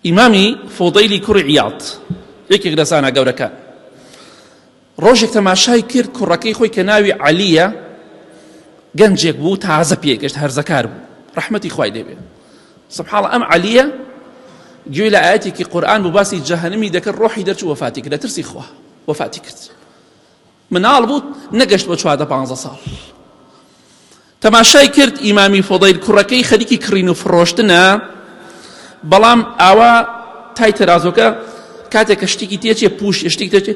ئیمامی فوودەیلی کوڕی عیاض یەکێک لە زانا گەورەکان ڕۆژێک تەماشای کرد کوڕەکەی خۆی کە ناوی عەلیە گەنجێک بوو تازە پێگەشت هەرزەکار بوو ڕەحمەتی خوای لێبێ سبحاڵ ئەم عەلیە گوێ لە ئاەتێکی قورآن بۆ باسی جەهنمی دەکرد ڕۆحی دەرچوو وەفاتی کرد لە ترسی خوا وەفاتی کرد مناڵ بوو نەگەشت بە چواردە پانزە ساڵ تەماشای کرد ئیمامی فۆدەیل کوڕەکەی خەریکی کڕین و فڕۆشتنە بەڵام ئاوا تای تەرازۆکە کاتێک کە شتێکی تێچێ پوش شتێک تێچێ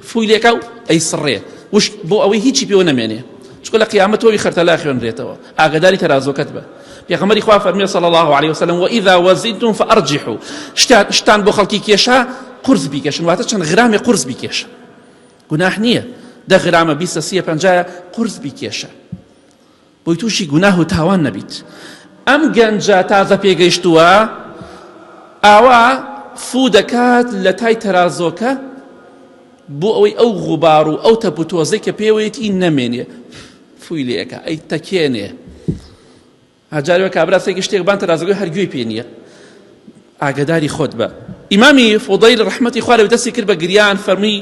فوی لێکا و ئەی سڕێ وش بۆ ئەوەی هیچی پێوە نەمێنێ چکە لە قیامەت تۆوی خەرتەلا خوێنرێتەوە ئاگداری تەرازۆکەت بە پێغەمەری خوا فەرمی صلی الله عليه وسلم وإذا وزنتم فأرجحوا شتان بۆ خەڵکی کێشا قرس بیکەشن واتە چەند غرامی قرس بیکێشن گوناح نیە دە غرامە بیستە سیە پەنجایە قورس بیکێشە بۆی تووشی گوناه و تاوان نەبیت ئەم گەنجە تازە پێگەیشتووە ئاوا فوو دەکات لە تای تەرازۆکە بۆ ئەوەی ئەو غوبار و ئەو تەپ و تۆزەی کە پێوەیەتی نەمێنێ فوی لێەکە ئەی تەکێنێ ها جارێ وە کابرا سێکی شتێک بان تەرازەگوی هەر گوێی پێ نییە ئاگداری خۆت بە ئیمامی فۆدەیل ڕحمەتی خوارە دەستی کرد بە گریان فەرمی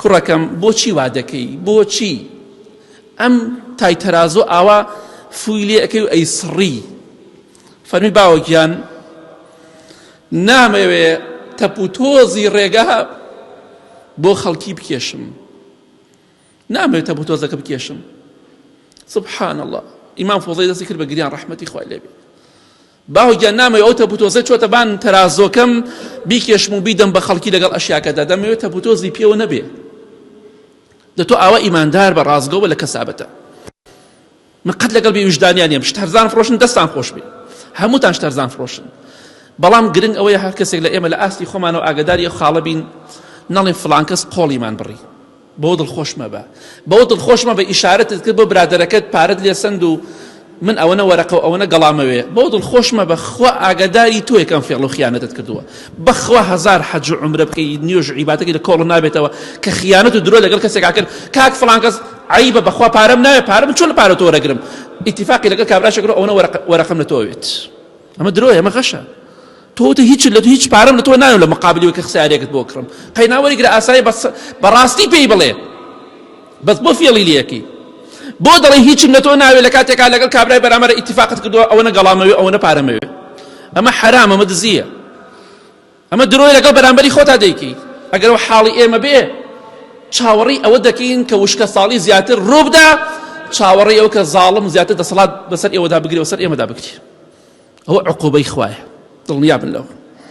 کوڕەکەم بۆچی وا دەکەی بۆچی ئەم تای تەرازۆ ئاوا فوی لێ ئەەکەی و ئەی سڕی فەرمی باوەگیان نامەوێ تەپ و تۆزی ڕێگا بۆ خەڵکی بکێشم نامەوێت تەپوو تۆزەکە بکێشم سبحان الله ئیمام فۆزەی دەستی کرد بە گریان ڕەحمەتی خوای لێ بێت باوگیان نامەوێت ئەو تەپوتۆزە چۆتە بان تەرازۆکەم بیکێشم و بیدەم بە خەڵکی لەگەڵ ئەشیاکەدا دەمەوێت تەپوتۆزی پێوە نەبێت دە تۆ ئاوا ئیماندار بە ڕاستگەوە لە کەسابەتە من قەت لەگەڵ بێ ویژدانیان نیم شت هەرزان فڕۆشن دەستان خۆش بێ هەمووتان شت هەرزان فڕۆشن بەڵام گرنگ ئەوەیە هەر کەسێک لە ئێمە لە ئاستی خۆمانەوە ئاگداری ئەو خاڵە بین نەڵێن فلانکەس قۆڵیمان بڕی بۆ دڵخۆش مەبە بۆ دڵخۆش مەبە ئیشارەتت کرد بۆ برادەرەکەت پارەت لێ سند و من ئەوەنە وەرەقە و ئەوەنە گەڵامەوێ بۆ دڵخۆش مەبە خوا ئاگاداری تۆ یەکەم فێڵ و خیانەتت کردووە بەخوا هزار حەج و عمرە بکەی نوێژ عیباتەکەی لە کۆڵ نابێتەوە کە خیانەت و درۆ لەگەڵ کەسێکا کرد کاک فلانکەس عەیبە بەخوا پارەم ناوێ پارە من چۆن لە پارە تۆ وەرەگرم ئیتیفاقی لەگەڵ کابراشە کرد ئەوەنە وەرەقەم لە تۆ ئەوێت ئەمە درۆیە ئەمە غەشە تۆ تە هیچ لە هیچ پارەم لە تۆ ناوێت لە مقابلیەوە کە خسارێکت بۆ کڕم قەیناوەری گرە ئاسایی بەس بەڕاستی پێی بڵێ بەس بۆ فێڵی لەکی بۆ دەڵێ هیچم لە تۆ ناوێت لە کاتێکا لەگەڵ کابرای بەرامەرە ئیتیفاقت کردووە ئەوەنە گەڵامەوێ ئەوەنە پارەمەوێ ئەمە حرامە مە دزیە ئەمە درۆیە لەگەڵ بەرامبەری خۆتا دەیکەیت ئەگەر ئەو حاڵی ئێمە بێ چاوەڕی ئەوە دەکەین کە وشکە ساڵی زیاتر ڕووبدا چاوەڕی ئەو کە زاڵم زیاتر دەسەڵات بەسەر ئێوەدا بگرێ وسەر ئێمەدا بگرێ ئەوە عقوبەی خوایە دڵنیا بن لەوە